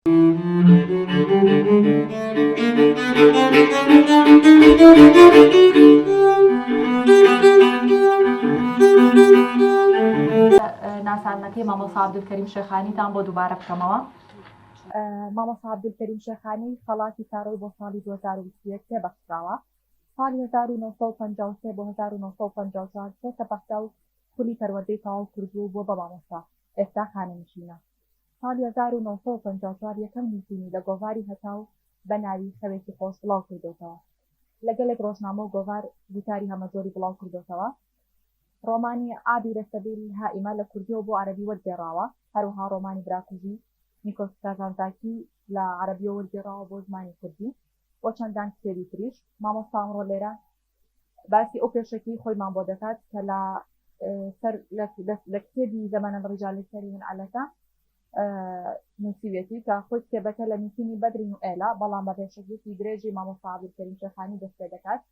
ناساندنەکەی مامۆستا عەبدولکەریم شێخانیتان بۆ دووبارە بکەمەوە. مامۆستا عەبدولکەریم شێخانی خەڵاتی کارۆی بۆ ساڵی دوو هەزار و بیست و یەک پێ بەخشراوە. ساڵی هەزار و نۆ سەد و پەنجا و سێ بۆ هەزار و نۆ سەد و پەنجا و چوار چۆتە بەغدا و خولی پەروەردەی تەواو کردووە و بووە بە مامۆستا، ئێستا خانەنشینە. ساڵی هەزار و نۆ سەد و پەنجا و چوار یەکەم نووسینی لە گۆڤاری هەتاو بە ناوی خەوێکی خۆش بڵاو کردۆتەوە. لە گەلێک ڕۆژنامە و گۆڤار گوتاری هەمەجۆری بڵاو کردۆتەوە. ڕۆمانی عابر سبیل هائمە لە کوردییەوە بۆ عەرەبی وەرگێڕاوە. هەروەها ڕۆمانی براکوژی، نیکۆس کازانتزاکی، لە عەرەبییەوە وەرگێڕاوە بۆ زمانی کوردی و چەندان کتێبی تریش. مامۆستا ئەمڕۆ لێرە باسی ئەو پێشەکیی خۆیمان بۆ دەکات کە لە سەر لە کتێبی زەمەنە ڕیجالی سەریون عەلەکە نووسیوێتی کە خۆی کتێبەکە لە نووسینی بەدرین و ئێلا بەڵام بە پێشەکیی درێژی مامۆستا عەبدولکەریم شێخانی دەست پێ دەکات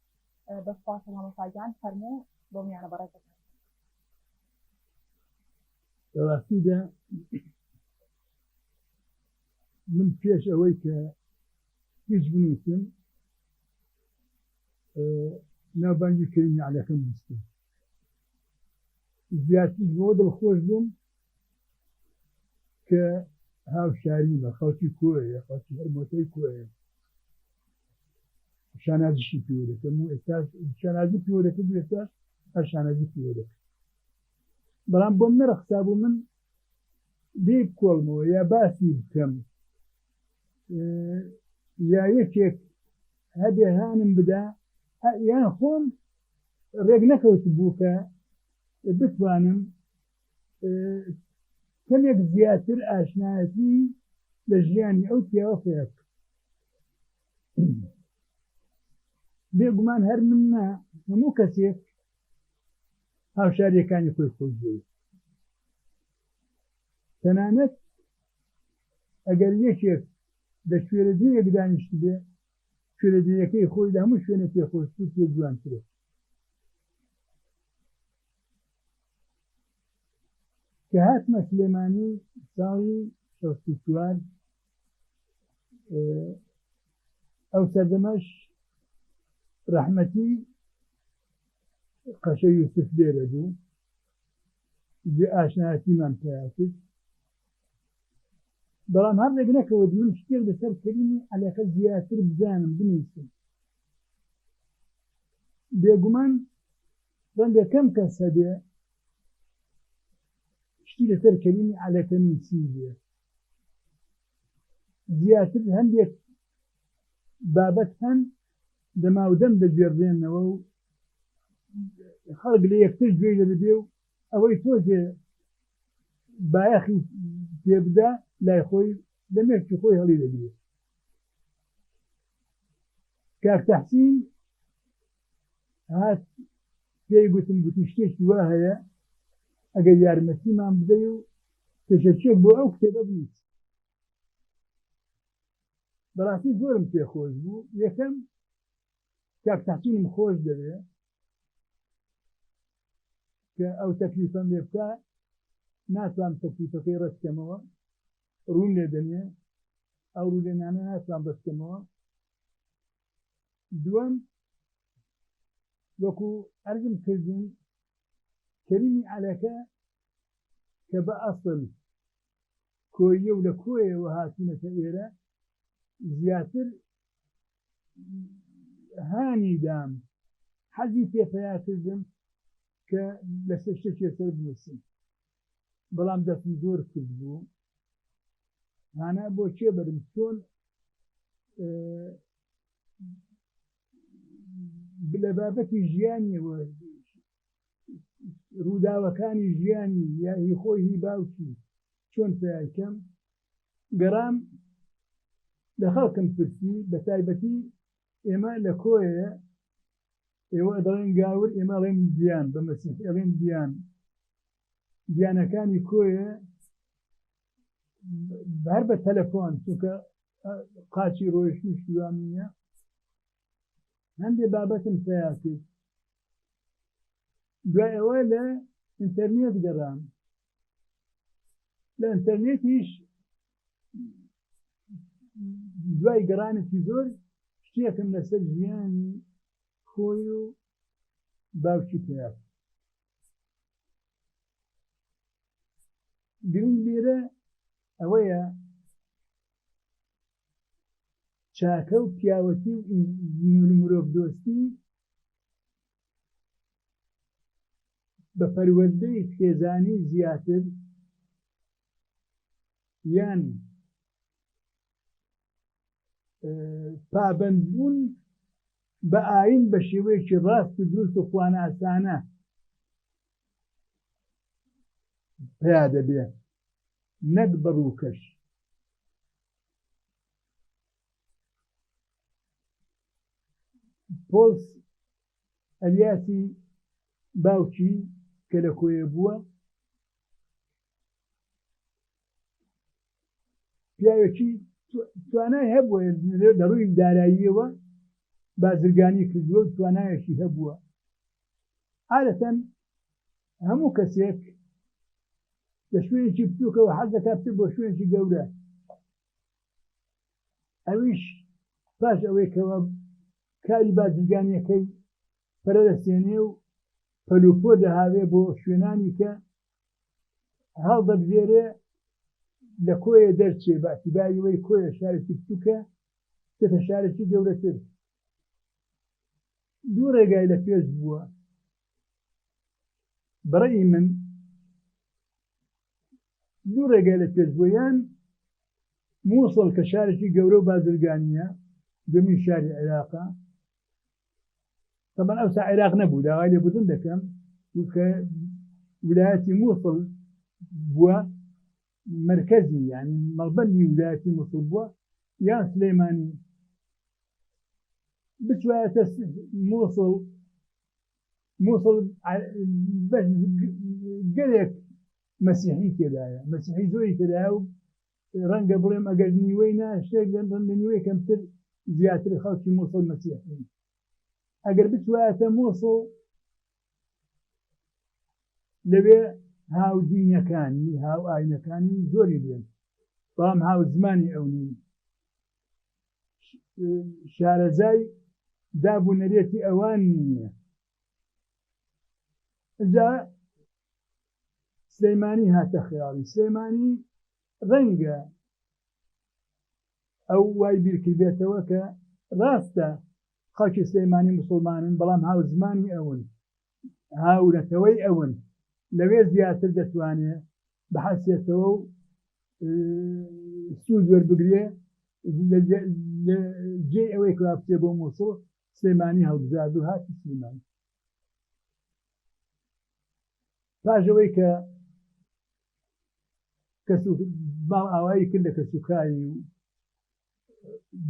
بە سپاس مامۆستا گیان فەرموو بۆ میانە بەڕێزەکە بەڕاستیدا من پێش ئەوەی کە هیچ بنووسم ناوبانگی کەریم نەعلەکەم بیستم زیاتریش بۆ دڵخۆش بووم کە هاوشاریمە خەڵکی کۆیە خەڵکی هەرمۆتەی کۆیە شانازیشی پێوە دەکەم و ئێستا شانازی پێوە دەکەم ئێستا هەر شانازی پێوە دەکەم بەڵام بۆم نەرەخسا بوو من لێ کۆڵمەوە یا باسی بکەم یا یەکێک هەبێ هانم بدا یان خۆم ڕێک نەکەوت بوو کە بتوانم کەمێک زیاتر ئاشنایەتی لە ژیانی ئەو پیاوە پێک بێگومان هەر من نە هەموو کەسێک هاوشاریەکانی خۆی خۆشبووی تەنانەت ئەگەر یەکێک لە کوێرەدرییەک دانیشتبێ، کوێرەدرییەکەی خۆی لە هەموو شوێنێک پێ خۆشتر و پێ جوانترە. کە هاتمە سلێمانی ساڵی شەست و چوار ئەو سەردەمەش ڕەحمەتی قەشە یوسف لێرە بوو، جێ ئاشنایەتیمان پیا کرد. بەڵام هەردەک نەکەوت من شتێک لەسەر کەریمی عەلەکە زیاتر بزانم بنووسم بێگومان ڕەنگە کەم کەس هەبێ شتی لەسەر کەریمی عەلەکە نووسی بێ زیاتر هەندێک بابەت هەن دەماودەم دەگوێڕێنەوە و خەڵک لە یەکتر گوێی لە دەبێ و ئەوەی تۆزێ بایەخی پێ بدا لای خۆی لە مێشکی خۆی هەڵی دەگرێت کاک تەحسین هات پێی گوتم گوتی شتێکی وا هەیە ئەگەر یارمەتیمان بدەی و پێشەکیێک بۆ ئەو کتێبە بنیت بەڕاستی زۆرم پێخۆش بوو یەکەم کاک تەحسینم خۆش دەوێت کە ئەو تەکلیفەم لێ بکە ناتوان تەکلیفەکەی ڕەتکەمەوە ڕوون لێ دەنێ ئەو ڕوولێنانە ناتوان ڕەتکەمەوە دووەم وەکو ئەرزم کردن کەریمی عەلەکە کە بە ئەسل کۆیە و لە کۆیەوە هاتوونەتە ئێرە زیاتر هانی دام حەزی پێ پەیا کردم کە لەسەر شتێکی سەر بنووسم بەڵام دەستم زۆر کرد بوو هانا بۆ چێ بەرم چۆن لە بابەتی ژیانیەوە ڕووداوەکانی ژیانی یاهی خۆی هی باوکی چۆن پیاکەم گەڕام لە خەڵکم پرسی بە تایبەتی ئێمە لە کۆیە ئێوە دەڵێن گاور ئێمە ڵێن گیان بە مەسیح ئێڵێن گیان گیانەکانی کۆیە بەر بە تەلەفۆن چونکە قاچی ڕۆیشتن شیوان نیە هەندێک بابەتم پیا کرد دوای ئەوە لە ئینتەرنێت گەڕان لە ئینتەرنێتیش دوای گەڕانێکی زۆر شتێکم لەسەر ژیانی خۆی و باوکی پێ گرنگ لێرە ئەوەیە چاکە و پیاوەتی و مرۆڤ دۆستی بە پەروەردەی خێزانی زیاتر یان پابەندبوون بە ئاین بە شێوەیەکی ڕاست و دروست و خواناسانە پیا دەبێت نەک بە ڕووکەش پۆلس ئەلیاسی باوکی کە لە کۆیە بووە پیاوێکی توانای هەبووە لە ڕووی داراییەوە بازرگانی کردووە و توانایەکی هەبووە عادەتەن هەموو کەسێک لە شوێنێکی بچووکەوە حەز دەکات بۆ شوێنێکی گەورە ئەویش پاش ئەوەی کەوا کاری بازرگانیەکەی پەرەدەسێنێ و پەلوپۆ دەهاوێ بۆ شوێنانی کە هەڵدەبژێرێ لە کۆیە دەرچێ باسی باویەوەی کۆیە شارێکی بچووکە دێتە شارێکی گەورەتر دوو ڕێگای لە پێش بووە بەڕێی من دوو ڕێگای لە پێش بووە، یان موسڵ کە شارێکی گەورە و بازرگانییە، دووەمین شاری عێراقە، تەبەن ئەوسا عێراق نەبوو، داوای لێبوردن دەکەم، چونکە ولایەتی موسڵ بووە مرکزی یعنی مەڵبەندی ولایەتی موسڵ بووە یان سلەیمانی بچوایەتە موسڵ موسڵ بەس گەلێک مەسیحی تێدایە مەسیحی زۆری تێدایە و ڕەنگە بڵێم ئەگەر نیوەی نا شتێک لەم ڕەن لە نیوەی کەمتر زیاتر خەڵکی موسڵ مەسیحین ئەگەر بچوایەتە موسڵ لەوێ هاودینەکانی هاو ئاینەکانی زۆری بێن بەڵام هاو زمانی ئەو نین شارەزای داب و نەرێتی ئەوان نییە جا سلەیمانی هاتە خیاڵی سلەیمانی ڕەنگە ئەو وای بیرکردێتەوە کە ڕاستە خەڵکی سلەیمانی مسلمانن بەڵام هاوزمانی ئەون هاورەتەوەی ئەون لەوێ زیاتر دەتوانێ بحەسێتەوە و سوود وەربگرێ جێ ئەوەی کراپچێ بۆ مووسڵ سلێمانی هەڵبزارد و هاتی سلێمانی پاژەوەی کە کەس باڵ ئاوایی کرد لە کەسوکاری و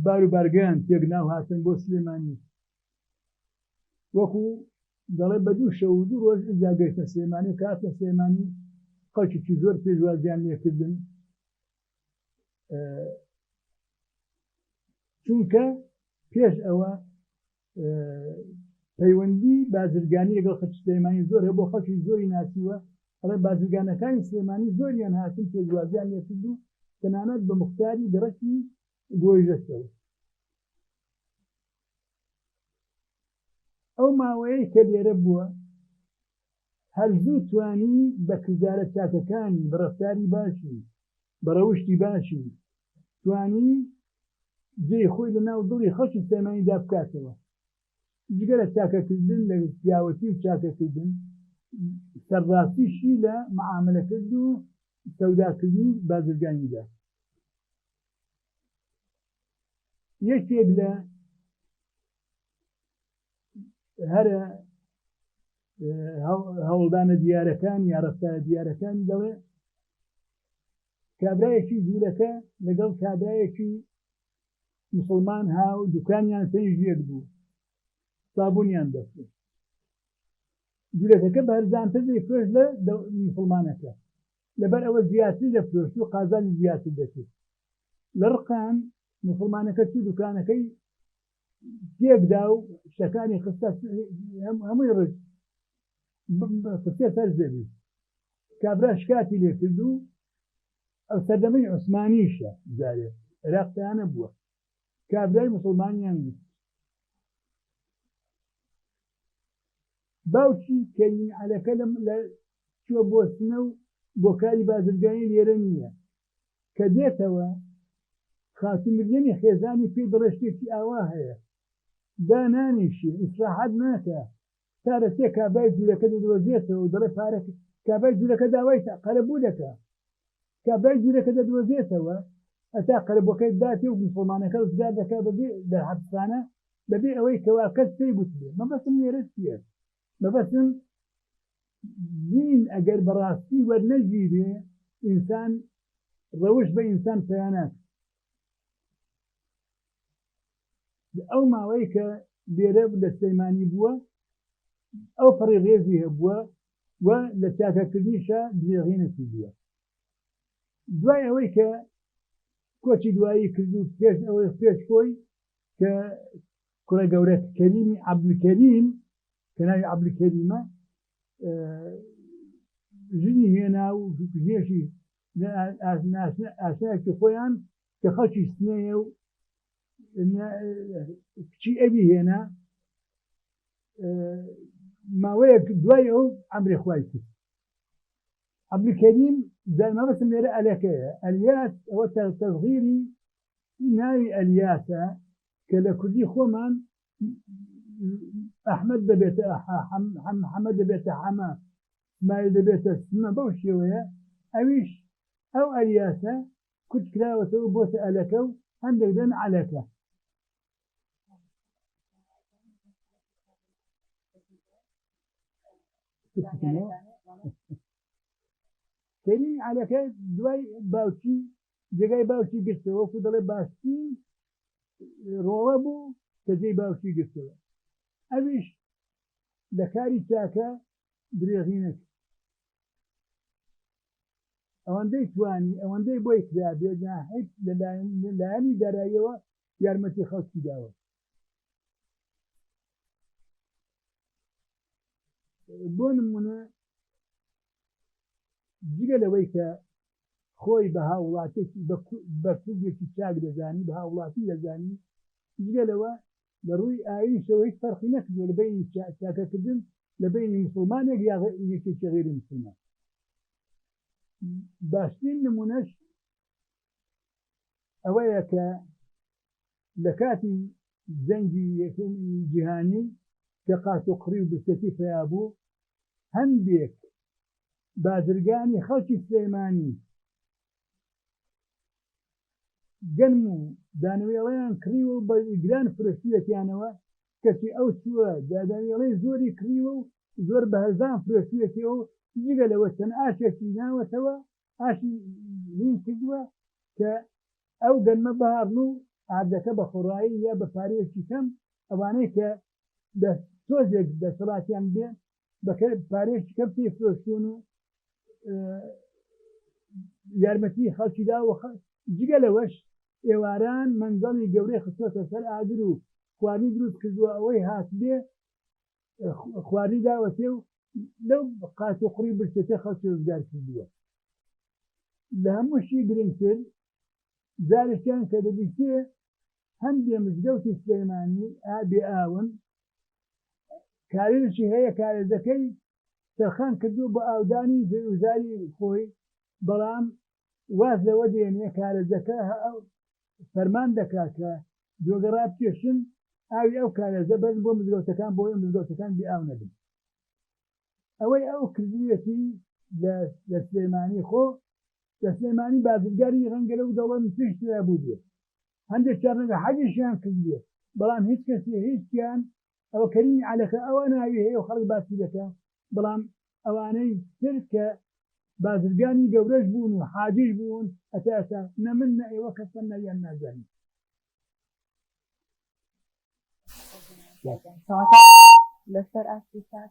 بار و بارگەیان تێک ناو هاتن بۆ سلێمانی وەکو دەڵێ بە دوو شەو دوو ڕۆژ جاگەیتە سلێمانی و کاتە سلێمانی خەڵکیی زۆر پێشوازیان لێکردن چونکە پێش ئەوە پەیوەندی بازرگانی لەگەڵ خەچ سلێمانی زۆرە بۆ خەڵکی زۆری ناسیوە ئەڵێ بازرگانەکانی سلێمانی زۆریان هاتن پێدوازیان لێکرد و تەنانەت بە مختاری گەڕکی گۆیژەستەوە ئەو ماوەیە کە لێرە بووە هەر زوو توانی بە کردارە چاکەکانی بە ڕفتاری باشی بە ڕەوشتی باشی توانی جێی خۆی لە ناو دڵی خەڵکی سلێمانیدا بکاتەوە. جگە لە چاکەکردن لە پیاوەتی و چاکەکردن، سەرڕاستیشی لە مەعامەلەکرد و سەوداکردنی بازرگانیدا. یەکێک لە هەرە هەوڵدانە دیارەکانی یا ڕەفتارە دیارەکانی دەڵێ، کابرایەکی جوولەکە لەگەڵ کابرایەکی مسڵمان هاو دوکانیان پێنج یەک بوو سابونیان دەفرێت جولەکەکە بەرزانتر دەیفرۆش لە مسلمانەکە لەبەر ئەوە زیاتری دەفرۆشت و قازانی زیاتر دەکرد لە ڕقان مسلمانەکە چی دوکانەکەی تێکدا و شتەکانی خستە هەمووی ڕژ خستێ سەر زەوی کابرا شکاتی لێ کرد و ئەو سەردەمەی عوسمانیشە جارێ عێراق پێیانە بووە کابرای مسلمانیان گوت باوکی کەریم عەلەکە لە چوە بۆ سنە و بۆ کاری بازرگانی لێرە نییە کە دێتەوە خاتوو مریەمی خێزانی پێی دەڵێ شتێکی ئاوا هەیە دانانیشێ ئیسراحەت ناکا تا لە سێ کابای جولەکە دەدۆزێتەوە و دەڵێ پارە کابای جولەکە داوای تا قەرەبوو دەکا کابای جولەکە دەدۆزێتەوە هەتا قەرەبووەکەی داتێ و موسڵمانەکە ڕزگار دەکا بەبێ دەرحەبسخانە بەبێ ئەوەی کەوا کەس پێی گوتبێ مەبەستم لێرە چییە مەبەستم دین ئەگەر بەڕاستی وەرنەگیرێ ئینسان ڕەوش بە ئینسان پەیانات ئەو ماوەی کە لێرە لە سلەیمانی بووە ئەو پەڕی ڕێزی هەبووە و لە چاکەکردنیشە درێغینەتی بووە دوای ئەوەی کە کۆچی دوایی کرد و پێش ئەوەی پێش خۆی کە کوڕە گەورەت کەریمی عەبدولکەریم کە ناوی عەبدولکەریمە ژنی هێنا و ژێشی ئاسایەکی خۆیان کە خەڵکی سنەیە و کچی ئەوی هێنا ماوەیەک دوای ئەو ئەمری خوای کرد عبدکەریم دەرمەبەسم لێرە ئەلەکەیە ئەلیاس ئەوە تەغیری ناوی ئەلیاسە کە لە کوردی خۆمان ئەحمەد دەبێتە حەمە دەبێتە حەمە سمایل دەبێتە سمە بەو شێوەیە ئەویش ئەو ئەریاسە کورت کراوەتەوە بۆتە ئەلەکە و هەندێک دەن عەلەکە کەریم عەلەکە دوای باوکی جێگای باوکی گرتەوە وەکو دەڵێ باشترین ڕۆڵە بوو کە جێی باوکی گرتەوە ئەویش لە کاری چاکە درێغی نەکرد ئەوەندەی توانی ئەوەندەی بۆی کرا بێت نا هیچ لە لایەنی داراییەوە یارمەتی خەڵکی داوە بۆ نمونە جگە لەوەی کە خۆی بە هاووڵاتێکی بە کوردێکی چاک دەزانی بە هاوڵاتی دەزانی جگە لەوە لە ڕووی ئاینشەوە هیچ فەرقی نەکردوە لە بینی چاکەکردن لە بینی مسلمانێک یاغ یەکێکی غیری مسلمان باشترین نمونەش ئەوەیە کە لە کاتی جەنگی یەکەمی جیهانی کە قاچ و قڕی و برسێتی پیا بوو هەندێک بازرگانی خەڵکی سلێمانی گەنم و دانەوێڵەیان کڕیوە و بە گران فرۆشتویەتیانەوە کەچی ئەو چووە داداوێڵەی زۆری کڕیوە و زۆر بە هەرزان فرۆشتویەتیەوە و جگە لەوە چەند ئاشێکی ناوەتەوە ئاشی لین کردووە کە ئەو گەنمە بەهاڕن و ئاردەکە بە خۆڕایی یا بە پارەیەکی کەم ئەوانەی کە لە تۆزێک دەسەڵاتیان بێ بە پارەیەکی کەم پێی فرۆشتون و یارمەتی خەڵکی دا و جگە لەوەش ئێواران مەنزەڵی گەورەی خستۆتە سەر ئاگر و خواردنی دروست کردووە ئەوەی هاتبێ خوارنی داوەتێ و لەو قات و قڕی برسێتە خەڵکی ڕزگار کردووە لە هەمووشی گرنگتر جارێکیان کە دەبیتێ هەندێ مزگەوتی سلەیمانی ئابێ ئاون کارێکی هەیە کارێزەکەی تەرخان کردو بە ئاودانی جێوزاری خۆی بەڵام واز لەوە دێنێ کارێزەکە فەرمان دەکا کە جۆگە ڕابکێشن ئاوی ئەو کارێزە بەرن بۆ مزگەوتەکان بۆ ئەوەی مزگەوتەکان بێ ئاو نەبن ئەوەی ئەو کردویەتی لە سلێمانی خۆ لە سلێمانی بازرگانی ڕەنگە لەو دەوڵەت پێش ترا بوو بێت هەندێک چارنەگە حەجیشیان کردێت بەڵام هیچ کەسی هیچیان ئەوە کەریمی عەلەقە ئەوە ناوی هەیە و خەڵک باسی دەکا بەڵام ئەوانەی تر کە بازرگانی گەورەش بوون و حاجیش بوون هەتا ئێستا نە من نە ئێوە کەسمان ناویان نازانین. لەسەر ئاستی سات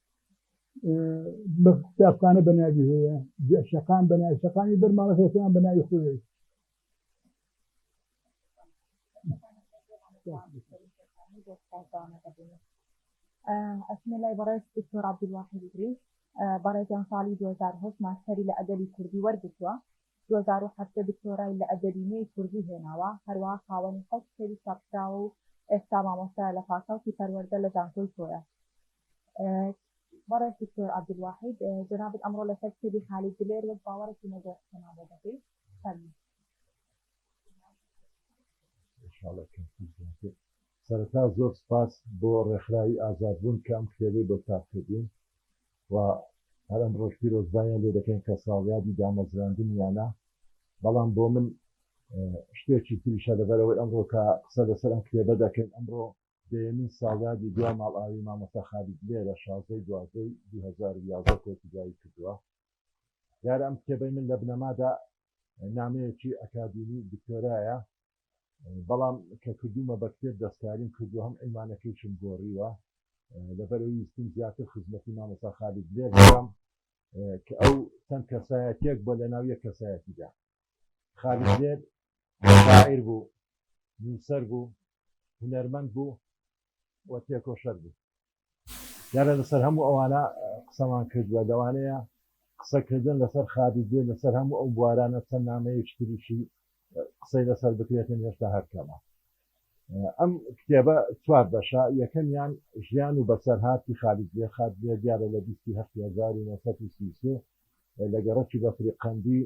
بە قوتابخانە بە ناوی هەیە شەقام بە ناوی شەقامی بەر ماڵەکەیان بە ناوی خۆی ئەسمە لای بەڕێز دکتۆر عبدالواحد دریس بەڕێزیان ساڵی 2010 ماستەری لە ئەدەبی کوردی وەرگتووە 2010 دکتۆرای لە ئەدەبی نوێی کوردی هێناوە هەروەها خاوەنی حەوت کتێبی چاپکراوە و ئێستا مامۆستایە لە پاساوکی پەروەردە لە زانکۆی کۆیە بەڕێز دکتۆر عبدالواحید جەنابت ئەمڕۆ لەسەر کتێبی خالید دلێر وەک باوەڕێکی نەگۆڕ قسەمان بۆ دەکەی فەرموو سەرەتا زۆر سپاس بۆ ڕێکخراوی ئازادبوون کە ئەم کتێبەی بۆ چاپ کردین و هەر ئەمڕۆش پیرۆزباییان لێ دەکەین کە ساڵیادی دامەزراندنیانە بەڵام بۆ من شتێکی تریشە لەبەرەوەی ئەمڕۆ کە قسە لەسەر ئەم کتێبە دەکەین ئەمڕۆ دەیەمین ساڵیادی دوا ماڵئاوی مامۆستا خالید لێرە شازدە دوازدە ی دوو هەزار و یازدە کۆتیبایی کردووە دیارە ئەم کتێبەی من لە بنەمادا نامەیەکی ئەکادیمی دکتۆرایە بەڵام کە کردوومە بە کتێب دەستکاریم کردووە هەم عینوانەکەیشم گۆڕیوە لەبەرەوەی ویستم زیاتر خزمەتی مامۆستا خالید لێر بکەم کە ئەو چەند کەسایەتیەک بۆ لەناو یەک کەسایەتیدا خالید لێر شاعیر بوو نووسەر بوو هونەرمەند بوو و تێکۆشەر بوو دیارە لەسەر هەموو ئەوانە قسەمان کردووە لەوانەیە قسەکردن لەسەر خابزێ لەسەر هەموو ئەو بوارانە چەند نامەیەکی تریشی قسەی لەسەر بکرێتن هێشتا هەرکەمە ئەم کتێبە چوار بەشە یەکەمیان ژیان و بەسەرهاتی خالید لێ خات لێ دیارە لە 1970 لە گەڕەکی بەفری قەندی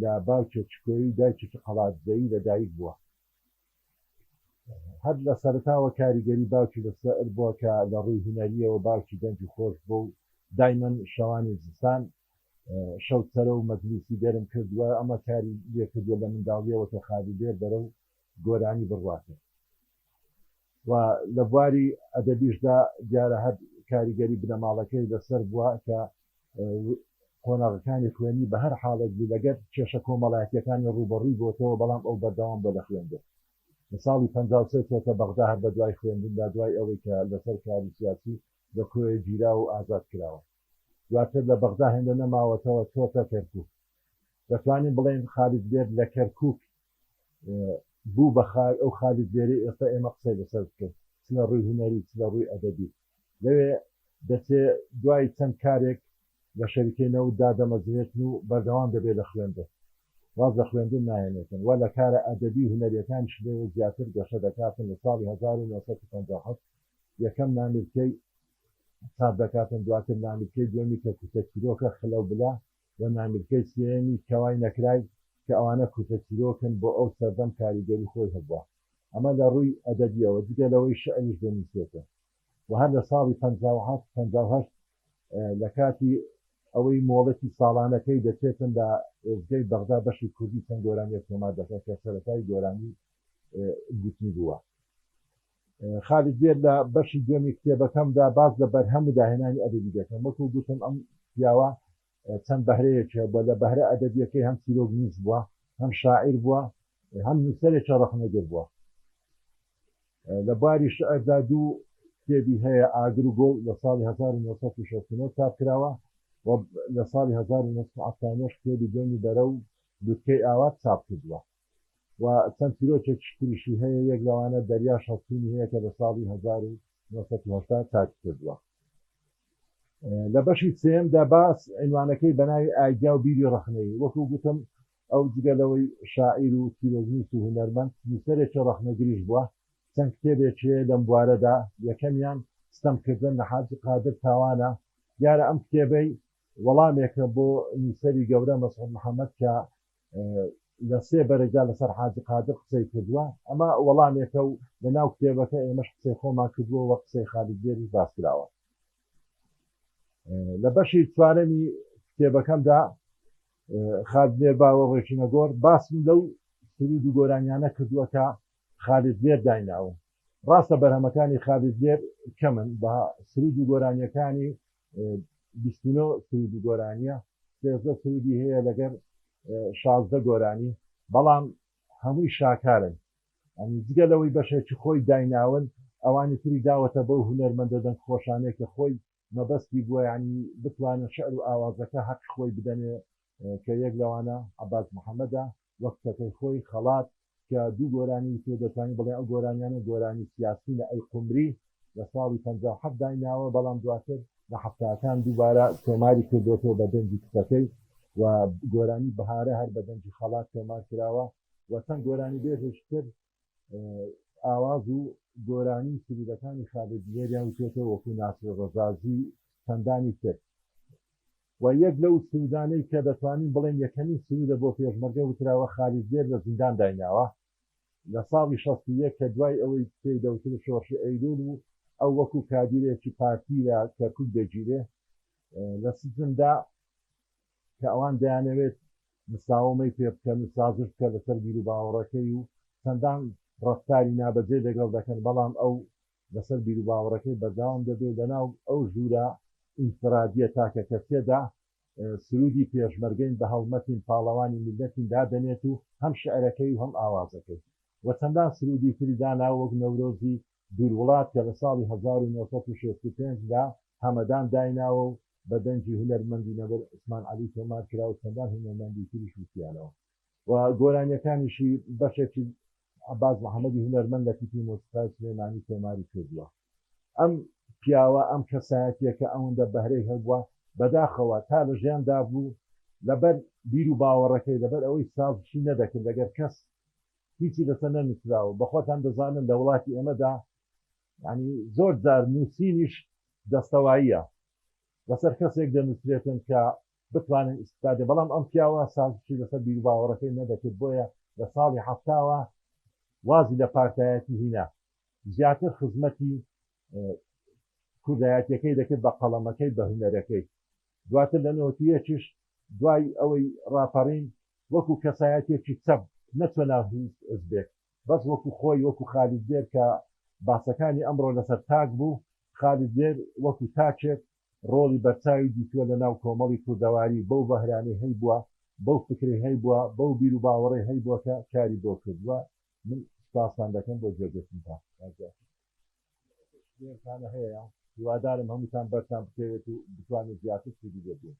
لە باوکێکی کۆی دایکێکی قەڵاتزەوی لە دایک بووە هەر لە سەرەتاوە کاریگەری باوکی لەسەر بووە کە لە ڕووی هونەرییەوە باوکی دەنگی خۆش بووە و دایمەن شەوانی زستان شەوتسەرە و مەجلیسی گەرم کردووە، ئەمە کاری لێکردووە لە منداڵییەوە کە خالیلێر بەرەو گۆرانی بڕواتێ. و لە بواری ئەدەبیشدا دیارە هەر کاریگەری بنەماڵەکەی لەسەر بووە کە قۆناغەکانی خوێندنی بە هەر حاڵێک بوو لەگەر کێشە کۆمەڵایەتییەکانی ڕووبەڕووی بۆتەوە بەڵام ئەو بەردەوام بووە لە خوێندن لە ساڵی پەنجا و سێ چۆتە بەغدا هەر بەدوای خوێندندا دوای ئەوەی کە لەسەر کاری سیاسی لە کۆیە گیرا و ئازاد کراوە دواتر لە بەغدا هێندە نەماوەتەوە چۆتە کەرکووک دەتوانین بڵێین خالید بێر لە کەرکووک بوو بە خاک ئەو خالی زێرەی ئێستا ئێمە قسەی لەسەر بکەین چ لە ڕووی هونەری چ لە ڕووی ئەدەبی لەوێ دەچێ دوای چەند کارێک لە شەریکەی نەوت دادەمەزرێتن و بەردەوام دەبێ لە خوێندن واز لە خوێندن ناهێنێتن وە لە کارە ئەدەبی و هونەریەکانیش لەوێ زیاتر گەشە دەکاتن لە ساڵی هەزار و نۆ سەد و پەنجا و حەوت یەکەم نامیلکەی چاپ دەکاتن دواتر نامیلکەی دووەمی کە کورتە چیرۆکە خلە و بلە و نامیلکەی سێیەمی کەوای نەکرای کە ئەوانە کورتە چیرۆکن بۆ ئەو سەردەم کاریگەری خۆی هەبووە ئەمە لە ڕووی ئەدەبیەوە جگە لەوەی شعریش دەنووسێتن و هەر لە ساڵی پەنجا و حەفت پەنجا و هەشت لە کاتی ئەوەی مۆڵەتی ساڵانەکەی دەچێتن لە ئێزگەی بەغدا بەشی کوردی چەند گۆرانیەک تۆمار دەکات کە سەرەتای گۆرانی گوتنی بووە. خالید بێت لە بەشی دوێمی کتێبەکەمدا باس لە بەرهەم و داهێنانی ئەدەبی دەکەم وەکو گوتم ئەم پیاوە چەند بەهرەیەکی هەبووە لە بەهرە ئەدەبیەکەی هەم چیرۆک نووس بووە هەم شاعیر بووە هەم نووسەرێکی ڕەخنەگر بووە لە باری شعردا دوو کتێبی هەیە ئاگر و گوڵ لە ساڵی 1969 چاپ کراوە و لە ساڵی 1970 کتێبی دەمی بەرە و لوتکەی ئاوات چاپ کردووە. و چەند چیرۆکێکی تریشی هەیە، یەک لەوانە دەریاش هەڵچوونی هەیە کە لە ساڵی هەزار و نۆ سەد و هەشتا چاپی کردووە. لە بەشی سێیەمدا باس عینوانەکەی بە ناوی ئایدیا و بیری ڕەخنەیی، وەکو گوتم ئەو جگە لەوەی شاعیر و چیرۆکنووس و هونەرمەند، نووسەرێکی ڕەخنەگریش بووە، چەند کتێبێکی هەیە لەم بوارەدا، یەکەمیان، ستەمکردن لە حاجی قادر تاوان، ە، دیارە ئەم کتێبەی وەڵامێکە بۆ نووسەری گەورە مەسعود محەمەد کە لە سێ بەرەجا لەسەر حاجی قادر قسەی کردووە، ئەمە وەڵامێکە و لە ناو کتێبەکە ئێمەش قسەی خۆمان کردووە و قسەی خالید بێریش باس کراوە. لە بەشی چوارەمی کتێبەکەمدا، خالد بێر باوە ڕێچوونە گۆر، باسم لەو سروود و گۆرانیانە کردووە کە خالید بێر دایناون. ڕاستە بەرهەمەکانی خالید بێر کەمن، بە سروود و گۆرانییەکانی بیست و نۆ سروود و گۆرانیە سێزدە سروودی هەیە لەگەر شازدە گۆرانی بەڵام هەمووی شاکارن ئەنی جگە لەوەی بەشێکی خۆی دایناون ئەوانی تری داوەتە بەو هونەرمەندە دەنگ خۆشانەی کە خۆی مەبەستی بووە یانی بتوانن شعر و ئاوازەکە هەقی خۆی بدەنێ کە یەک لەوانە عەباس محەمەدە و کچەکەی خۆی، خەڵات، کە دوو گۆرانی وتی و دەتوانی بڵێ ئەو گۆرانیانە گۆرانی سیاسینە ئەی قومری لە ساڵی پەنجا و حەفت دایناوە بەڵام دواتر لە حەفتاکان دووبارە تۆماری کردۆتەوە بە دەنگی کچەکەی و گۆرانی بەهارە هەر بە دەنگی خەڵات تۆمار کراوە و چەند گۆرانیبێژێکی تر ئاواز و گۆرانی و سروودەکانی خالید بوێریان وتۆتەوە وەکوو ناسر ڕەزازی و چەندانی تر و یەک لەو سروودانەی کە دەتوانین بڵێین یەکەمین سروودە بۆ پێشمەرگە وتراوە خالید بوێر لە زیندان دایناوە لە ساڵی شەست و یەک کە دوای ئەوەی پێی دەوترێ شۆڕشی ئەیلوول و ئەو وەکوو کادیرێکی پارتی لە کەرکووک دەگیرێ لە سجندا کە ئەوان دەیانەوێت مساوەمەی پێ بکەن و سازش بکەن لەسەر بیروباوەڕەکەی و چەندان ڕەفتاری نابەجێ لەگەڵ دەکەن بەڵام ئەو لەسەر بیروباوەڕەکەی بەردەوام دەبێ لەناو ئەو ژوورە ئینفرادیە تاکەکەسیەدا سروودی پێشمەرگەین بە هەڵمەتین پاڵەوانی میللەتین دادەنێت و هەم شعرەکەی و هەم ئاوازەکەی و چەندان سروودی تری داناوە وەک نەورۆزی بیروڵات کە لە ساڵی هەزار و نۆ سەد و شەست و پێنج لە هەمەدان دایناوە و بە دەنگی هونەرمەندی نەمر عوسمان عەلی تۆمار کرا و چەندان هونەرمەندی تریش وتیانەوە و گۆرانیەکانیشی بەشێکی عەباس محەمەدی هونەرمەند لە تیپی مۆسیقای سلێمانی تۆماری کردووە ئەم پیاوە ئەم کەسایەتیە کە ئەوەندە بەهرەی هەبووە بەداخەوە تا لە ژیان دابوو لەبەر بیر و باوەڕەکەی لەبەر ئەوەی سازشی نەدەکرد لەگەر کەس هیچی لەسەر نەنوسراوە بەخۆتان دەزانن لە وڵاتی ئێمەدا یانی زۆر جار نوسینیش دەستەواییە لەسەر کەسێک دەنوسرێتن کە بتوانن ئیستفادە بەڵام ئەم پیاوە سازشی لەسەر بیروباوەڕەکەی نەدەکرد بۆیە لە ساڵی حەفتاوە وازی لە پارتایەتی هینا زیاتر خزمەتی کوردایەتیەکەی دەکرد بە قەڵەمەکەی بە هونەرەکەی دواتر لە نەوەتیەکیش دوای ئەوەی ڕاپەڕین وەکو کەسایەتیەکی چەپ نەچوە ناو هیچ حزبێک بەس وەکو خۆی وەکو خالید دێر کە باسەکانی ئەمڕۆ لەسەر تاک بوو خالید دێر وەکو تاکێک ڕۆڵی بەرچاوی دیتوە لە ناو کۆمەڵی کوردەواری بەو بەهرانەی هەیبوە بەو فکرەی هەیبوە بەو بیرو باوەڕەی هەیبوە کە کاری بۆ کردوە من سوپاستان دەکەم بۆ گوێگرتنتان. شتێکانە هەیە هیوادارم هەمووتان بەرتان بکەوێت و بتوانێت زیاتر سودی دەبێت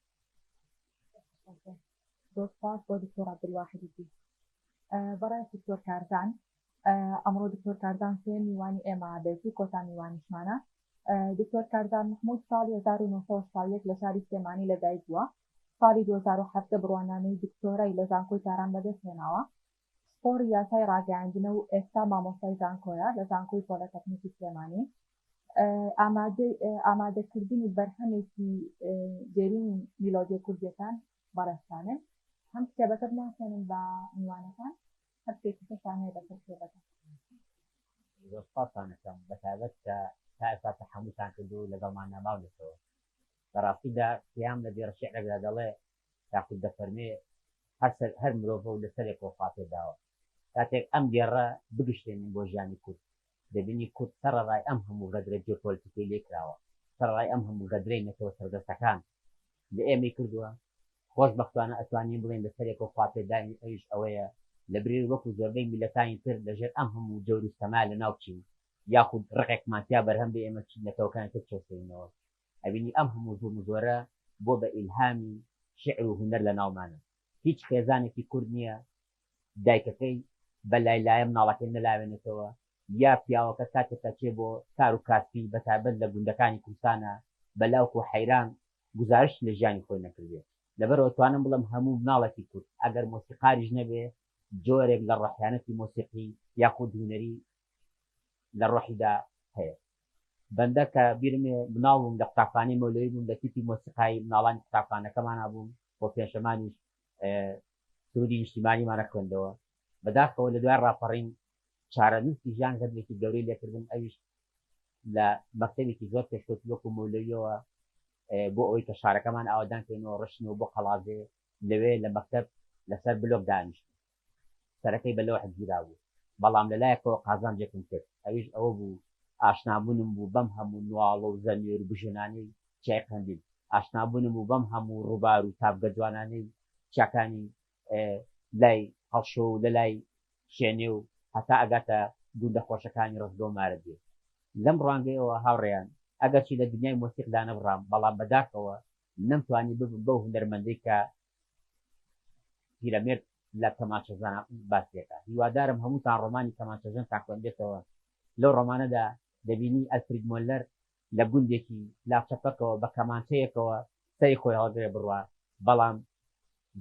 زۆر سپاس بۆ دکتۆر عبدالواحدی پیس بەڕای دکتۆر کارزان ئەمڕۆ دکتۆر کارزان سێ میوانی ئێمە بێت و کۆتا میوانیشمانە دکتۆر کارزان محمود ساڵی 1970 لە شاری سلێمانی لەدایک بووە ساڵی 2017 بڕوانامەی دکتۆرای لە زانکۆی تاران بەدەست هێناوە پسپۆڕی یاسای ڕاگەیاندنە و ئێستا مامۆستای زانکۆیە لە زانکۆی پۆلەتەکنیکی سلێمانی ئامادەی ئامادەکردنی بەرهەمێکی دێرینی میلۆدیە کوردیەکان بەڕێزتانن هەم کتێبەکە بناسێنن بە میوانەکان هەر شتێکی ترتان هەیە بەسەر کتێبەکە سپاسانەکەم بەتابەت کە تا ئێستا تەحەموتان کردو لەگەڵمان ناماونەتەوە لە ڕاستیدا قیام لە دێڕ شعرێکدا دەڵێ تاقوت دەفەرمێ هەر سەر هەر مرۆڤە و لە سەرێ کۆڵخاتێ داوە. کاتێک ئەم دێڕە بگشتێنین بۆ ژیانی کورد، دەبینی کورد سەڕەڕای ئەم هەموو غەدرە جیۆپۆلتیکەی لێ کراوە، سەڕەڕای ئەم هەموو غەدرەی نەتەوە سەردەستەکان لە ئێمەی کردووە، خۆش بەختانە ئەتوانین بڵێین لە سەرێ کۆڵخاتێ داین ئەویش ئەوەیە لە بری وەکوو زۆربەی میللەتانی تر لە ژێر ئەم هەموو جەور و ستەما لە ناو بچین یاخود ڕقێکمان تیا بەرهەم بێ ئێمە چین نەتەوەکانی تر چەوسێنینەوە. ئەبینی ئەم هەموو زوڵم و زۆرە بۆ بە ئیلهامی شیعر و هونەر لە ناومانە هیچ خێزانێکی کورد نیە دایکەکەی بە لای لایە مناڵەکەی نەلاوێنێتەوە یا پیاوەکە کاتێک ئەچێ بۆ کار و کاسپی بە تایبەت لە گوندەکانی کوردستانا بە لاوک و حەیران گوزارشت لە ژیانی خۆی نەکردبێ لەبەرئەوە توانم بڵێم هەموو مناڵێکی کورد ئەگەر مۆسیقاریش نەبێ جۆرێک لە ڕەحیانەتی مۆسیقی یاخود هونەری لە ڕۆحیدا هەیە. بەندە کە بیرم ێە مناڵ بووم لە قوتابخانەی مەولەوی بووم لە تیپی مۆسیقای مناڵانی قوتابخانەکەمانا بووم و پێنجشەمانیش سرودی نیشتیمانیمانە خوێندەوە بەداخەوە لە دوای ڕاپەڕین چارەنووسی ژیان غەدرێکی گەورەی لێکردم ئەویش لە مەکتەبێکی زۆر پێشکەوتوو وەکو مەولەویەوە بۆ ئەوەی کە شارەکەمان ئاوەدان کەینەوە ڕشتینەوە بۆ قەڵادێ لەوێ لە مەکتەب لەسەر بلۆک دانیشتین سەرەکەی بە لەوح گیرابوو، بەڵام لە لایەکەوە قازانجێکم کرد، ئەویش ئەوە بوو ئاشنابوونم بوو بەم هەموو نواڵە و زەمێر و بژێنانەی چیای قەندیل، ئاشنابوونم بوو بەم هەموو ڕووبار و تاڤگە جوانانەی چیاکانی لای هەڵشۆ و لە لای شێنێ و هەتا ئەگاتە گوندە خۆشەکانی ڕەزگە و مارەدێ. لەم ڕوانگەیەوە هاوڕێیان، ئەگەرچی لە دنیای مۆسیقدا نەبڕام، بەڵام بەداخەوە نەمتوانی ببم بەو هونەرمەندەی کە پیرەمێرد لە کەمانچەژەنە باسی دەکات هیوادارم هەمووتان ڕۆمانی کەمانچەژەن تان خوێندبێتەوە لەو ڕۆمانەدا دەبینی ئەلفرید مۆلەر لە گوندێکی لاچە پەکەوە بە کەمانچەیەکەوە سەری خۆی هەڵگرێ بڕوا بەڵام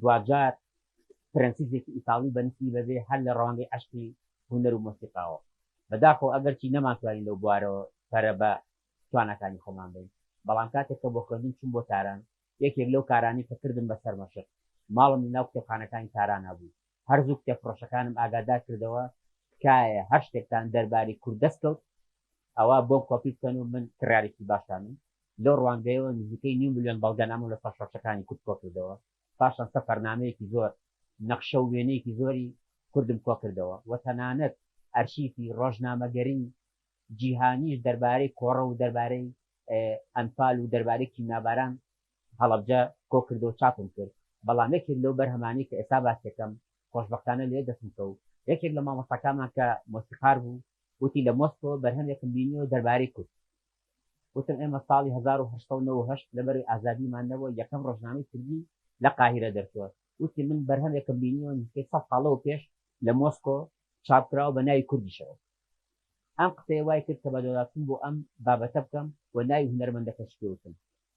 دواجار پرەنسیسێکی ئیتاڵی بەنسی بەبێ هەر لە ڕەوانگەی عەشقی هونەر و مۆسیقاوە بەداخەوە ئەگەرچی نەمانتوانی لەو بوارەوە پەرە بە تواناکانی خۆمان بەین بەڵام کاتێک کە بۆ خوێندن چووم بۆ تاران یەکێک لەو کارانەی کە کردم بەسەر مەشق، ماڵم لەناو کتێبخانەکانی تارانا بوو. هەر زوو کتێبفرۆشەکانم ئاگادار کردەوە، تکایە هەر شتێکتان دەربارەی کورد دەست کەوت، ئەوا بۆم کۆپی بکەن و من کڕیارێکی باشتانم. لەو ڕوانگەیەوە نزیکەی نیو ملیۆن بەڵگەنامەم لە سەرشۆڕشەکانی کورد کۆ کردەوە. پاشان سەفەرنامەیەکی زۆر، نەخشە و وێنەیەکی زۆری کوردم کۆ کردەوە و تەنانەت ئەرشیفی ڕۆژنامەگەریی جیهانیش دەربارەی کۆڕە و دەربارەی ئەنفال و دەربارەی کیمیاباران هەڵەبجە کۆکردەوە چاپم کرد بەڵام یەکێک لەو بەرهەمانەی کە ئێستا باسیەکەم خۆشبەختانە لێ دەستم کەوت یەکێک لە مامۆستاکانمان کە مۆسیقار بوو وتی لە مۆسکۆ بەرهەمێکم بینیەوە دەربارەی کورد وتم ئێمە ساڵی هەزار و هەشت سەد و نەوە و هەشت لەبەروی ئازادیمان نەبووە یەکەم ڕۆژنامەی کوردی لە قاهیرە دەرچووە وتی من بەرهەمێکم بینیەوە نزیکەی سەد ساڵ لەوە پێش لە مۆسکۆ چاپکراوە بە ناوی کوردیشەوە. ئەم قسەیە وای کرد کە بەدواداچوون بۆ ئەم بابەتە بکەم و ناوی هونەرمەندەکەشی پێ وتم.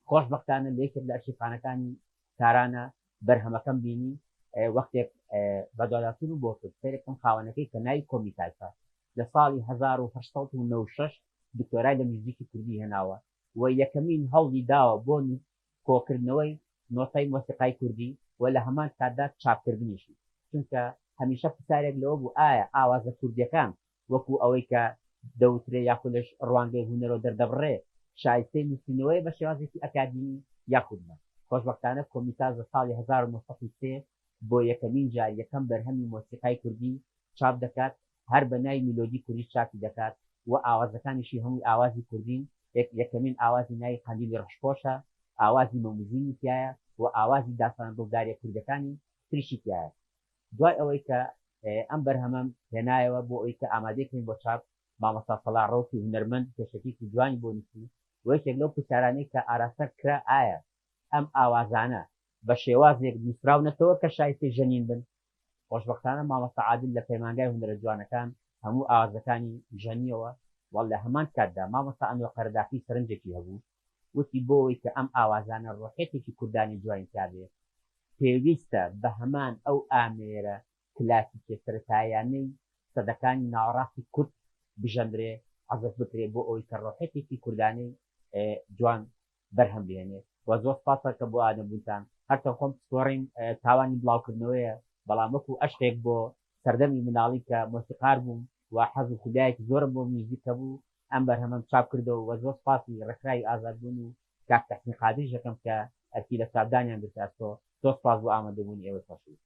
خۆشبەختانە لە یەکێک لە ئەرشیفخانەکانی تارانە بەرهەمەکەم بینی، وەختێک بەدواداچوونم بۆ کرد سەیرە بکەم خاوەنەکەی کە ناوی کۆمی تایفە لە ساڵی هەزار و هەشت سەد و نەوەد و شەش دکتۆرای لە میوزیکی کوردی هێناوە و یەکەمین هەوڵی داوە بۆ کۆکردنەوەی نۆتەی مۆسیقای کوردی و لە هەمان کاتدا چاپکردنیشی، چونکە هەمیشە پرسیارێک لەوە بوو ئایا ئاوازە کوردییەکان وەکوو ئەوەی کە دەوترێ یاخود لە ڕوانگەی هونەرەوە دەردەبڕرێ شایستەی نووسینەوەیە بە شێوازێکی ئەکادیمی یاخود نا. خۆشبەختانە کۆمیتاس لە ساڵی هەزار و نۆ سەد و سێ بۆ یەکەمین جار یەکەم بەرهەمی مۆسیقای کوردی چاپ دەکات هەر بە ناوی میلۆدی کوردی چاپی دەکات و ئاوازەکانیشی هەمووی ئاوازی کوردین، یەکەمین ئاوازی ناوی قەندیلی ڕەشپۆشە، ئاوازی مەموزینی تیایە و ئاوازی داستانە دڵداریە کوردەکانی تریشی تیایە. دوای ئەوەی کە ئەم بەرهەمەم هێنایەوە بۆ ئەوی کە ئامادەی کەین بۆ چاپ، مامۆستا سەڵاح ڕەوتی هونەرمەند پێشەکیەکی جوانی بۆ نووسی و یەکێک لەو پرسیارانەی کە ئاراستە کرا ئایا ئەم ئاوازانە بە شێوازێک نووسراونەتەوە کە شایستەی ژەنین بن؟ خۆشبەختانە مامۆستا عادل لە پەیمانگای هونەرە جوانەکان هەموو ئاوازەکانی ژەنیەوە و لە هەمان کاتدا مامۆستا ئەنوەر قەرەداخی سەرنجێکی هەبوو وتی بۆ ئەوەی کە ئەم ئاوازانە ڕۆحیەتێکی کوردانەی جوانی تیابێت پێویستە بە هەمان ئەو ئامێرە کلاسیکیە سەرەتاییانەی سەدەکانی ناوەڕاستی کورد بژەنرێ عەزف بکرێ بۆ ئەوەی کە ڕۆحیەتێکی کوردانەی جوان بەرهەم بهێنێ وە زۆر سوپاس کە بۆئادە بوونتان هەرچەند خۆم پسپۆڕیم تاوانی بڵاوکردنەوەیە بەڵام وەکو ئەشقێک بۆ سەردەمی مناڵی کە مۆسیقار بووم و حەز و خودایەکی زۆرم بۆ میوزیک هەبوو ئەم بەرهەمەم چاپ کردەوە وە زۆر سوپاسی ڕێکخراوی ئازاد بوون و کاک تەحسین قادریش دەکەم کە ئەرکی لە چاپدانیان گرتە ئەستۆ زۆر سوپاس بۆ ئامادەبوونی ئێوەی خۆشەویست.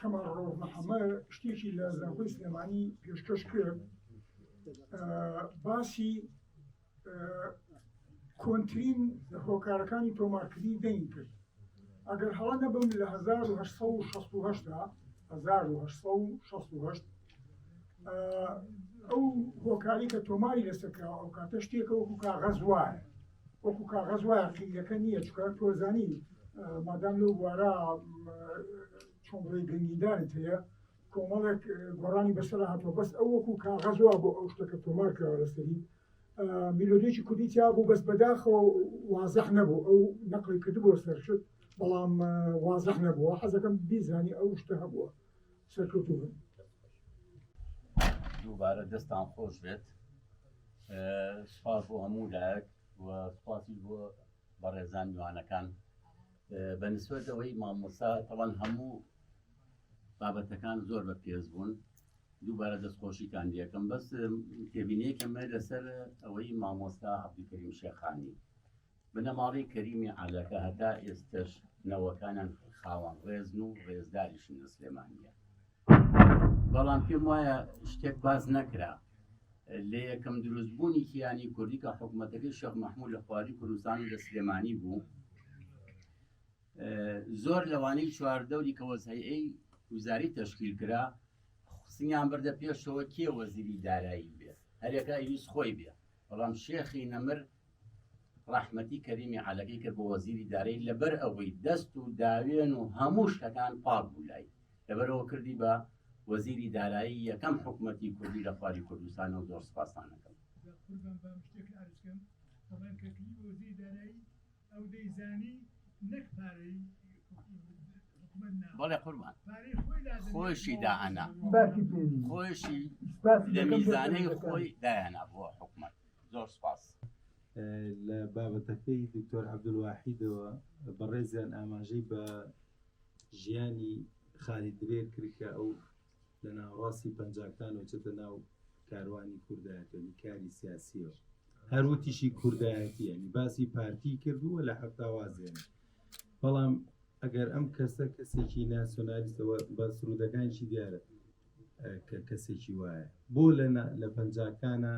کەمال ڕەوف محەمەد شتێکی لە زانکۆی سلێمانی پێشکەش کرد باسی کۆنترین هۆکارەکانی تۆمارکردنی دەنگ کرد ئەگەر هەڵە نەبم لە 1960 ئەو هۆکاری کە تۆماری لەسەکراوە ئەو کاتە شتێکەوە کاغەز وایە وەکو کاغەز وایە قیلەکە نییە چکە تۆزانی مادام لەو بوارە چۆنڕێ گەنگیدانت هەیە کۆمەڵێک گۆڕانی بەسەر هاتووە بەس ئەو وەکو کاغەزوا بۆ ئەو شتەکە تۆمار کراوە لەسەری میلۆدیکی کوردی تیا بوو بەس بەداخەوە وازەح نەبوو ئەو نەقلی کردبووە سەرشت بەڵام وازەح نەبووە حەزەکەم بیزانی ئەو شتە هەبووە سەرکەوتوبن. دووبارە دەستان خۆش بێت سپاس بۆ هەموو لایەک و سپاسی بۆ بەڕێزان میوانەکان بە نسبەت ئەوەی مامۆسا تەوان هەموو بابەتەکان زۆر بە پێز بوون دووبارە دەستخۆشیتان دیەکەم بەس تێبینەیەکەمە لەسەر ئەوەی مامۆستا عبدکریم شێخانی بنەماڵەی کەریمی عەلە کە هەتا ئێستەش نەوەکانیان خاوەن ڕێزن و ڕێزداریشن لە سلێمانیە بەڵام پێم وایە شتێک باز نەکرا لە یەکەم دروستبوونی کیانی کوردی کە حکوومەتەکەی شەق مححمود لە خواری کوردستان لە سلێمانی بوو زۆر لەوانەی چواردەوری کە وەزهەیەی وزاری تشکیل کرا سنیان بردە پێشەوە کێ وەزیری دارایی بێت هەرێکا ئیویست خۆی بێ بەڵام شێخی نەمر ڕەحمەتی کەریمی عەلەکەی کرد بۆ وەزیری دارایی لەبەر ئەوەی دەست و داوێن و هەموو شتەکان پاک بوو لای لەبەرەوە کردی بە وەزیری دارایی یەکەم حکومەتی کوردی لە خواری کوردستان و زۆر سپاستان ئەکەم. قوربان بم شتێک عەرز کەم دەڵێن کە کلی بە وەزیری دارایی ئەو دەیزانی نەک پارەی حکومەت نا بەڵێ قوربان پارەی خۆی دادەنێ خۆشی دائەنا باکی پێ خۆشی سپاسی لە دەکەم بۆ میزانەی سەرەتا. خۆی دایانا بۆ حکومەت زۆر سوپاس. لە بابەتەکەی دکتۆر عەبدولواحیدەوە بەڕێزیان ئاماژەی بە ژیانی خالی دلێر کرد کە ئەو لە ناوەڕاستی پەنجاکانەوە چێتە ناو کاروانی کوردایەتی یانی کاری سیاسیەوە هەر وتیشی کوردایەتی یانی باسی پارتی کردووە لە هەفتاوازێنە بەڵام ئەگەر ئەم کەسە کەسێکی ناسیۆنالیستەوە بە سرودەکانیشی دیارە کە کەسێکی وایە بۆ لە لە پەنجاکانە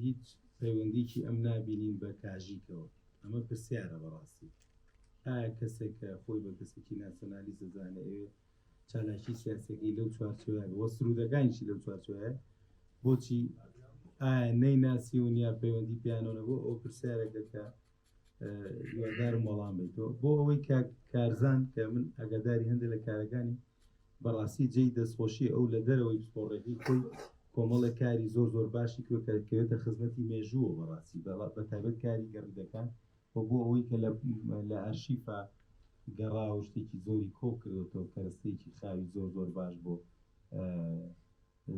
هیچ پەیوەندیکی ئەم نابینین بە کاژیکەوە ئەمە پرسیارە بەڕاستی ئایا کەسێک کە خۆی بە کەسێکی ناسیۆنالی زەزانێ چالاکی سیاسەکەی لەو چوارچوە بۆ سرودەکانیشی لەو چوارچوە بۆچی ئایا نەی ناسیون یا پەیوەندی پیانەوە بۆ ئەو پرسیارەکە کە یادارم وەڵام بیتەوە بۆ ئەوەی کارزان کە من ئەگەداری هەندێک لە کارەکانی بەڕاستی جێی دەستخۆشی ئەو لە دەرەوەی پسپۆڕێکی خۆی کۆمەڵە کاری زۆر زۆر باشی کرێتە خزمەتی مێژووە بەڕاستی بەڵات بە تایبەت کاری گەڕیدەکان و بۆ ئەوەی کە لە ئەرشیفا گەڕاوە شتێکی زۆری کۆ کردێتەوە کەرەستێکی خاوی زۆر زۆر باش بۆ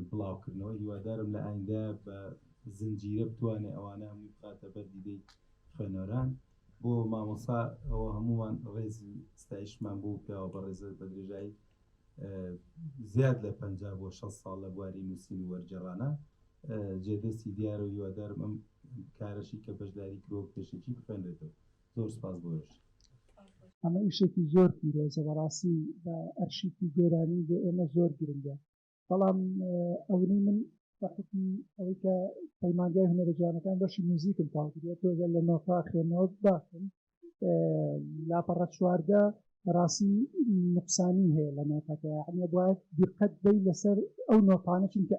بڵاوکردنەوە هیوادارم لە ئایندە بە زنجیرە بتوانێ ئەوانە هەمووی بخاتە بەر دیدەی خوێنەران بۆ مامۆسا ئەوە هەمووان ڕێزی ستایشمان بۆ پیاوە بە ڕێزە بە درێژایی زیاد لە پ بۆ 6 ساڵ لە بواری نووسین و وەرگێڕانە جێدەستی دیارە و هیوادارم ئەم کارەشی کە بەشداری کرۆ پێشەکی بخوێنرێتەوە زۆر سپاس بۆش ئەمە ئیشێکی زۆر پیرۆزە بەڕاستی بە ئەرشیفی گۆرانی بۆ ئێمە زۆر گرنگە بەڵام ئەونی من بە حکمی ئەوەی کە پەیمانگای هەنەرە جوانەکان بەشی میوزیکم تاو کرێت تۆزە لە نۆفا خوێنەوە باشم لاپەڕە چواردە بەڕاستی نقصانی هەیە لە نۆتەکە یعنی باید دقت بی لەسەر ئەو نۆتانە چونکە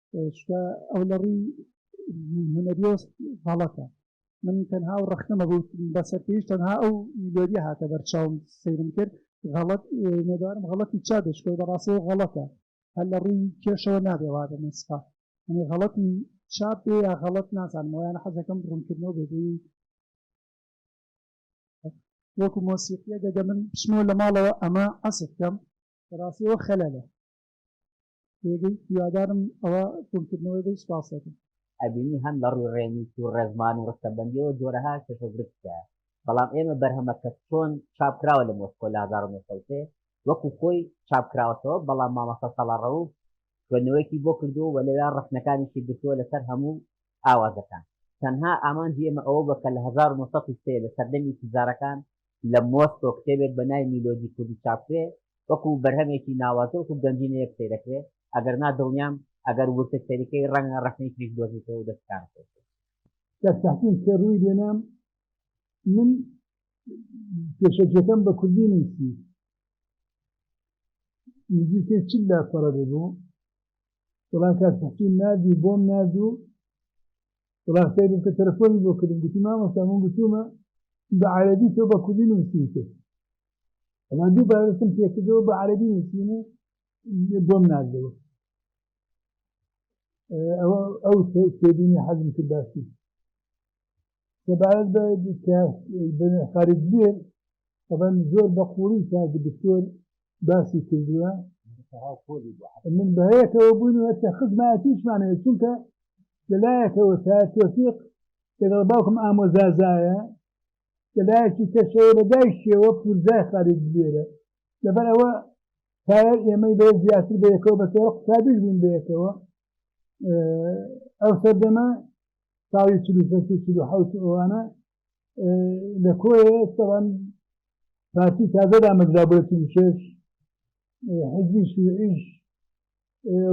چکە ئەو لە ڕووی هونەریۆست غەڵەتە من تەنها و ڕەخنەمە بوو بەسەر پێش تەنها ئەو میلۆدی هاتە بەرچاوم سەیرم کرد غەڵەت نێدارم غەڵەتی چا دەشکەوت بە ڕاستەوە غەڵەتە هەر لە ڕووی کێشەوە نابێ وا بە مەسقا ئەنی غەڵەتی چاپ بێ یا غەڵەت نازانم یان حەزەکەم ڕوونکردنەوە بێبووی وەکو مۆسیقیە دەگە من پشمەوە لە ماڵەوە ئەمە عەسف کەم ڕاستیەوە خەلەلە پێگەی هیوادارم ئەوە کۆنکردنەوەی بەی سوپاس دەکەم. ئەبینی هەم لە ڕووی ڕێنووس و ڕێزمان و ڕستەبەندییەوە جۆرەها کێشە و گرفت تیایە، بەڵام ئێمە بەرهەمە کە چۆن چاپ کراوە لە مۆسکۆ لە هەزار و نۆ سەد و سێ وەکوو خۆی چاپ کراوەتەوە، بەڵام مامۆستا ساڵار ڕەووف خوێندنەوەیەکی بۆ کردووە و لەوێ ڕەخنەکانیشی گرتووە لەسەر هەموو ئاوازەکان تەنها ئامانجی ئێمە ئەوە بوە کە لە هەزار و نۆ سەد و سێ لە سەردەمی سزارەکان لە مۆسکۆ کتێبێک بە ناوی میلۆدی کوردی چاپکرێ وەکو بەرهەمێکی ناوازە وەکو گەنجینەیەک سەیرەکرێ ئەگەر نا دڵنیام ئەگەر ورتر سەیرکەی ڕەنگە ڕەخنەی تریش بدۆزیتەوە و دەست کارت پێ بکەی. کاک تەحسین کە ڕوی لێنام من پێشەکیەکەم بە کوردی نوسی نزیکەی چل لاپەڕە ببو وڵا کاک حسین ناردی بۆم نارد و وڵا سەیرم کە تەلەفۆنی بۆ کردم گوتی مامۆستا من گوتومە بە عەرەبی تۆ بە کوردی نووسیوتە ئەما دووبارەتم پێکردەوە بە عەرەبی نووسین و بۆم ناردەوە ئەوە ئەو تێبینی حەزم کرد باسی سەبارەت بە خارجبێن ئەبەن زۆر بە قوڵی تاک دکتۆر باسی کردووە من بەهەیەکەوە بوون هەتا خزمەتیشمانەیە چونکە لەلایەکەوە تا تۆفیق لەگەڵ باوکم ئامۆزازایە لەلایەکی کەشەوە لە دایشەوە پورزای خارج بێرە لەبەر ئەوە تایەر ئێمەی بە زیاتر بەیەکەوە بەسەوە قوتابیش بوون بەیەکەوە ئەو سەردەمە ساڵی چل و شەش و چل و حەوت ئەوانە لە کۆیە ئێستاوان پارتی تازە دامەزرا بۆ چل و شەش حزبی شوعیش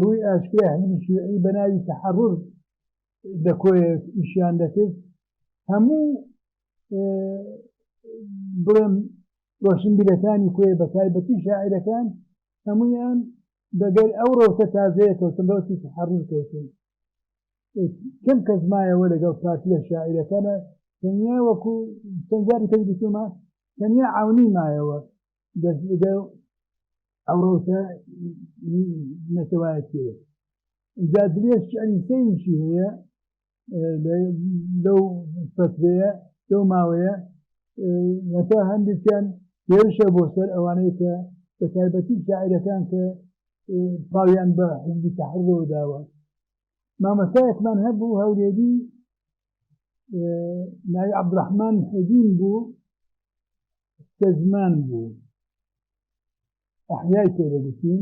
ڕووی ئاشکرای حزبی شوعی بە ناوی تەحەڕر لە کۆیە ئیشیان دەکرد هەموو بڵێم ڕۆشنبیرەکانی کۆێ بە تایبەتی شاعیرەکان هەمویان دەگەر ئەو ڕەوتە تازەیە کەوتن ڕەوتی تحڕور کەوتن کەم کەس مایەوە لەگەڵ پارتیە شاعیرەکانە تەنیا وەکو چەندجاری پێ گوتومە تەنیا عونی مایەوە دەستگە ئەو ڕەوتە نەتەوایەتیەوە جا درێژ شعری سەیشی هەیە لەو فەترەیە لەو ماوەیە هەتا هەندێکیان هێرشە بۆ سەر ئەوانەیە کە بە تایبەتی شاعیرەکان کە پاویان بە حزبی تەحرەوە داوە مامۆستایەکمان هەبوو هەولێری ناوی عبدڕحمان حەدین بوو کە زمان بوو ئەحیای پێ دەگوتین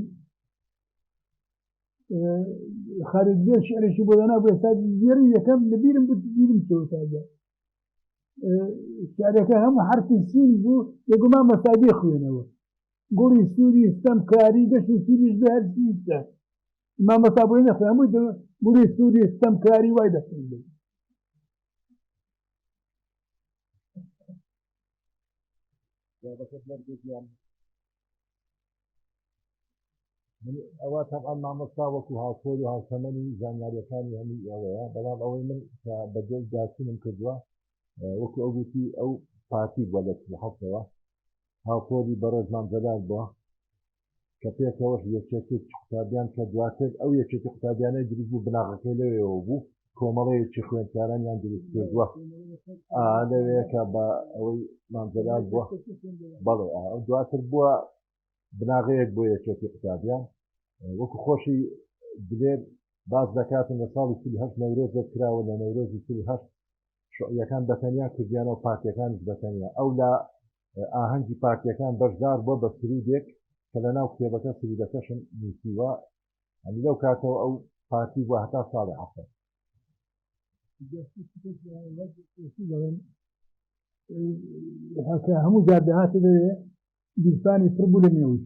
خارج بێ شعرێکی بۆ دەنا بۆ ئێستا گێری یەکەم لەبیرم بوو بیرم چۆتاگە شعرەکە هەموو حرفی سین بوو لەگومان مەسادی خوێنەوە گوڵی سووری ستەم کاری گەشت سووریش بە هەرسیستە مامۆستا بۆی نەخوێ هەمووی دڵ بوری سوودی ستەمکاری وای دەستم بێت ئەوە تەبان مامۆستا وەکو هاوپۆل و هاوتەمەنی زانیاریەکانی هەمووی ئەوەیە بەڵام ئەوەی من کە بەدەست داچینم کردووە وەکو ئەوگوتی ئەو پارتی بە لە حەتەوە هاوپۆلی بەڕێزمان جەلال بووە کە پێکەوەش یەکێتێکی قوتابیان کە دواتر ئەو یەکێتی قوتابیانەی دروست بوو بناغەکەی لەوێەوە بوو کۆمەڵەیەکی خوێندکارانیان دروست کردووە لەوەیەکە بە ئەوەی مامجلال بووە بەڵێ دواتر بووە بناغەیەک بۆ یەکێتی قوتابیان وەکو خۆشی دلێر باز دەکاتن لە ساڵی سیهش نەورۆزێک کراوە لە نەورۆزی سیهش شعیەکان بەتەنیا کردیانەوە پارتەکانش بەتەنیا ئەو لە ئاهەنگی پارتیەکان بەشدار بوە بە سرودێک کە لە ناو کتێبەکە سرودەکەشم نوسیوە ئەنی لەو کاتەوە ئەو پارتی بوە هەتا ساڵی عفر هەکە هەموو جار دەهاتە دەوێ گیرفانی پڕ بوو لە نێوش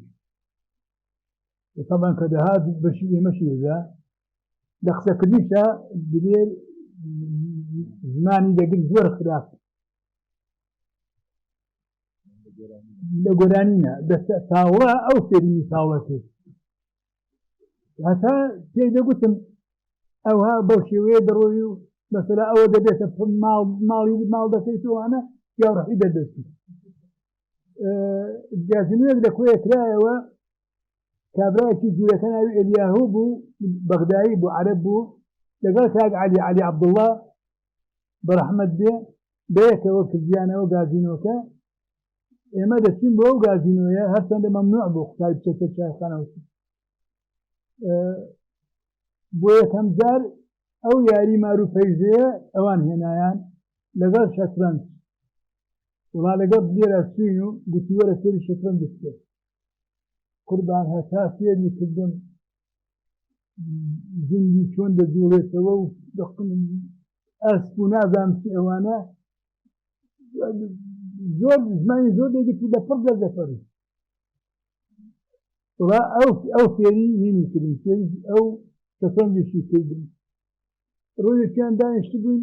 تەمان کە دەهات بەشی ئێمەشی دەدا لە قسەکردنیشە دلێر زمانی دەگر زۆر خراپ لە گۆرانینە دەستە تاوە ئەو فێرمی تاوە کرد هەتا پێی دەگوتم ئەوها بەو شێوەیە دەڕۆی و مەسەلا ئەوە دەبێتە ماڵ ماڵی ماڵ دەکەیت وانە یاڕحی دەردەستی جازنێک لە کۆیە کرایەوە کابراایکی جوورەکە ناوی ئەلیاهو بوو بەغدایی بوو عرب بوو لەگەڵ کاک علی علی عبدله بەرەحمەت بێ بەیەکەوە کردیانەوە گازینۆکە ئێمە دەچین بۆ ئەو گازینۆیە هەرچەندە مەمنوع بۆ قوتای بچێتە چایخانەوەچی بۆ یەکەم جار ئەو یاری مارو پەیزەیە ئەوان هێنایان لەگەڵ شەترەنج وڵا لەگەڵ لێرە سوین و گوتیوەرە سری شەترەنج بکرێت قوربان هەتا سێری کردم جندی چۆن دەجوڵێتەوە و دەقلم ئەسپ و نازان چ ئەوانە زۆر زمانی زۆر دەگەت و لەپڕ دەردەفەری وڵا ئەو ئەو فێری نینی کردن فێری ئەو سەفەنجێکی کردن ڕۆژێکیان دانیشت بووین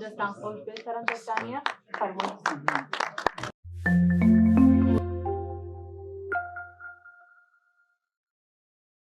دەستان خۆش بێت سەرم دەستانە فەرمۆن